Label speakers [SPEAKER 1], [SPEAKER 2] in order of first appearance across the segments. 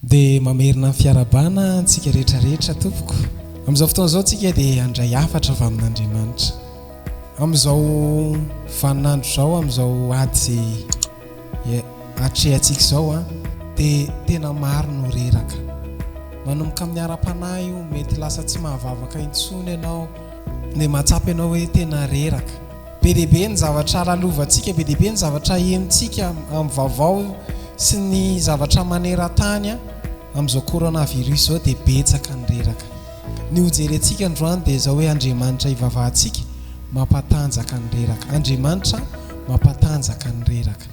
[SPEAKER 1] Dia mamerina ny fiarahabana antsika rehetra rehetra tompoko. Amin'izao fotoana izao tsika dia handray hafatra avy amin'Andriamanitra. Amin'izao vanin'andro izao, amin'izao ady izay atrehantsika izao an. Dia tena maro no reraka. Manomboka amin'ny ara-panahy io, mety lasa tsy mahavavaka intsony ianao. Dia mahatsapa ianao hoe tena reraka. Be dia be ny zavatra lalovantsika, be dia be ny zavatra henontsika amin'ny vaovao sy ny zavatra maneran-tany amin'izao coronavirus izao dia betsaka ny reraka. Ny hojerentsika androany dia izao hoe Andriamanitra hivavahantsika mampatanjaka ny reraka. Andriamanitra mampatanjaka ny reraka.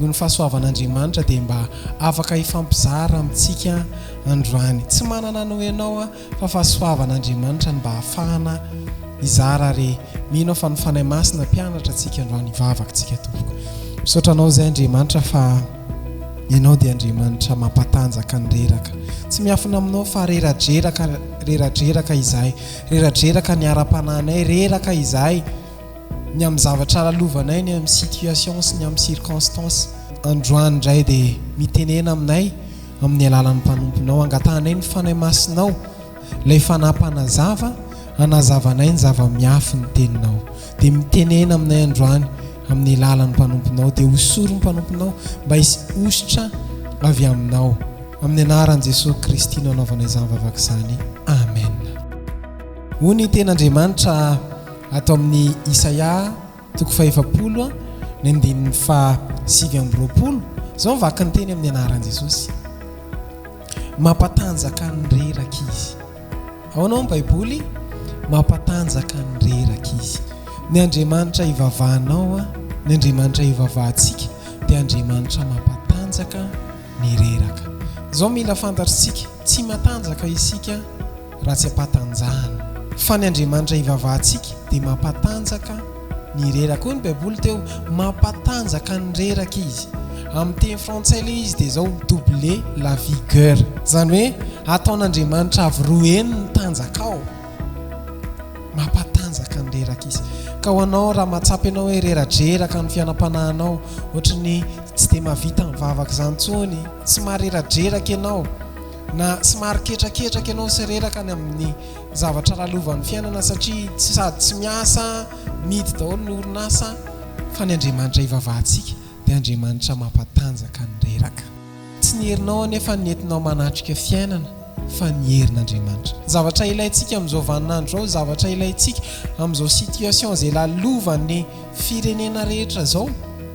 [SPEAKER 1] noho ny fahasoavan'Andriamanitra dia mba afaka hifampizara amintsika androany. Tsy manana anao ianao aho fa fahasoavan'Andriamanitra no mba ahafahana hizara ary mino aho fa ny Fanahy Masina hampianatra antsika androany hivavaktsika tompoko. Misaotra anao izay Andriamanitra fa ianao dia Andriamanitra mampatanjaka ny reraka. Tsy miafina aminao fa reradreraka, reradreraka izahay, reradreraka ny ara-panahinay, reraka izahay. Ny amin'ny zavatra lalovanay, ny amin'ny situation sy ny amin'ny circonstance. Androany indray dia mitenena aminay amin'ny alalan'ny mpanomponao. Angatahanay ny Fanahy Masinao, ilay Fanahy Mpanazava, hanazavanay ny zava-miafy ny Teninao. Dia mitenena aminay androany amin'ny alalan'ny mpanomponao. Dia hosory ny mpanomponao mba hisy hosotra avy Aminao. Amin'ny anaran'i Jesoa Kristy no anaovanay izany vavaka izany. Amen. Hoy ny Tenin'Andriamanitra. Ato amin'ny Isaia toko fahefapolo ny andininy faha sivy amby roapolo, izao ny vakinteny amin'ny anaran'i Jesosy, Mampatanjaka ny reraka Izy. Ao anao ny Baiboly? Mampatanjaka ny reraka Izy. Ny Andriamanitra ivavahanao, ny Andriamanitra ivavahantsika dia Andriamanitra mampatanjaka ny reraka. Izao mila fantatr'isika, tsy matanjaka isika. raha tsy ampatanjahana. Fa ny Andriamanitra hivavahantsika dia mampatanjaka ny reraka. Hoy ny Baiboly teo, Mampatanjaka ny reraka izy. Amin'ny teny frantsay ilay izy dia izao, doubler la vigueur. Izany hoe ataon'Andriamanitra avy roa heny ny tanjakao. Mampatanjaka ny reraka izy. Ka ho anao, raha mahatsapa ianao hoe reradreraka ny fiainam-panahinao, ohatran'ny tsy dia mahavita mivavaka izany intsony, tsy mahareradreraka ianao, Na somary ketraketraka ianao sy reraka any amin'ny zavatra lalovan'ny fiainana satria sady tsy miasa, mihidy daholo ny orinasa, fa ny Andriamanitra ivavahantsika dia Andriamanitra mampatanjaka ny reraka. Tsy ny herinao anefa no entinao manatrika fiainana fa ny herin'Andriamanitra. Ny zavatra ilaintsika amin'izao vaninandro izao, ny zavatra ilaintsika amin'izao situation izay lalovan'ny firenena rehetra izao,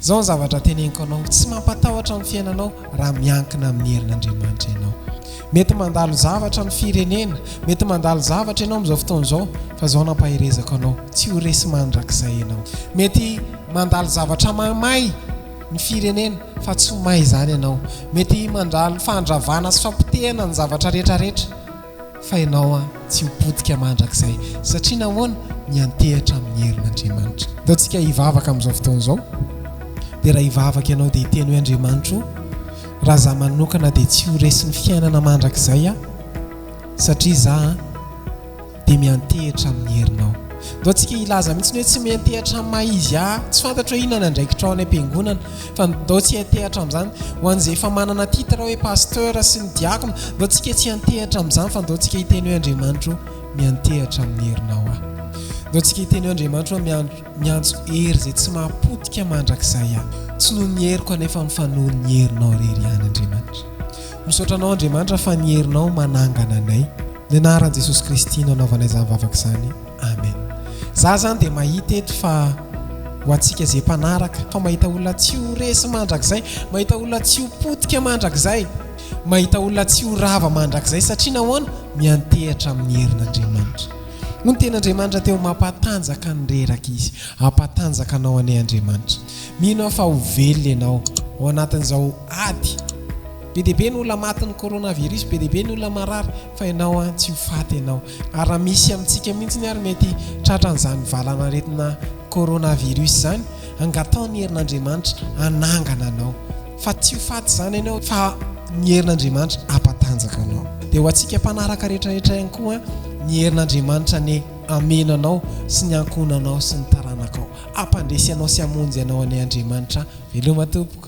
[SPEAKER 1] Izao ny zavatra teneniko anao, tsy mampatahotra ny fiainanao raha miankina amin'ny herin'Andriamanitra ianao. Mety mandalo zavatra amin'ny firenena, mety mandalo zavatra ianao amin'izao fotoana izao, fa izao no ampaherezako anao, tsy ho resy mandrakizay ianao. Mety mandalo zavatra mahamay ny firenena, fa tsy ho may izany ianao. Mety mandalo fandravana sy fampotehana ny zavatra rehetra rehetra. Fa ianao an tsy ho potika mandrakizay satria nahoana? Miantehatra amin'ny herin'Andriamanitra. Ataontsika hivavaka amin'izao fotoana izao dia raha hivavaka ianao dia hiteny hoe Andriamanitra o, raha za manokana dia tsy ho resin'ny fiainana mandrakizay aho satria za an dia miantehitra amin'ny herinao. Ataontsika hilaza mihitsy hoe tsy miantehatra amin'ny maha izy ahy, tsy fantatro hoe inona ny andraikitrao any am-piangonana, Fa ndao tsy hiantehatra amin'izany. Ho an'izay efa manana titre hoe Pasteur sy ny Diakona, ndao tsika tsy hiantehatra amin'izany fa ndao tsika hiteny hoe Andriamanitra o, miantehatra amin'ny herinao aho. Ndao tsika hiteny hoe Andriamanitra o, miantso hery izay tsy maha-potika mandrakizay aho. Tsy noho ny heriko anefa fa noho ny herinao irery ihany Andriamanitra. Misaotra anao Andriamanitra fa ny herinao manangana anay. Ny anaran'i Jesosy Kristy no anaovanay izany vavaka izany. Amen za zany dia mahita eto fa ho antsika izay mpanaraka fa mahita olona tsy ho resy mandrakizay mahita olona tsy ho potika mandrakizay mahita olona tsy ho rava mandrakizay satria nahoana miantehatra amin'ny herin'Andriamanitra no ten'Andriamanitra teo mampatanjaka ny reraka izy ampatanjaka anao anie Andriamanitra mino aho fa ho velona ianao ao anatin'izao ady Be dia be ny olona matin'ny coronavirus, be dia be ny olona marary, fa ianao an tsy ho faty ianao. Ary raha misy amintsika mihitsy ary mety tratran'izany valan'aretina coronavirus izany, angataho ny herin'Andriamanitra hanangana anao, fa tsy ho faty izany ianao, fa ny herin'Andriamanitra hampatanjaka anao. Dia ho antsika mpanaraka rehetrarehetra ihany koa an, ny herin'Andriamanitra anie hameno anao sy ny ankohonanao sy ny taranakao. Hampandresy anao sy hamonjy anao anie Andriamanitra an. Veloma tompoko.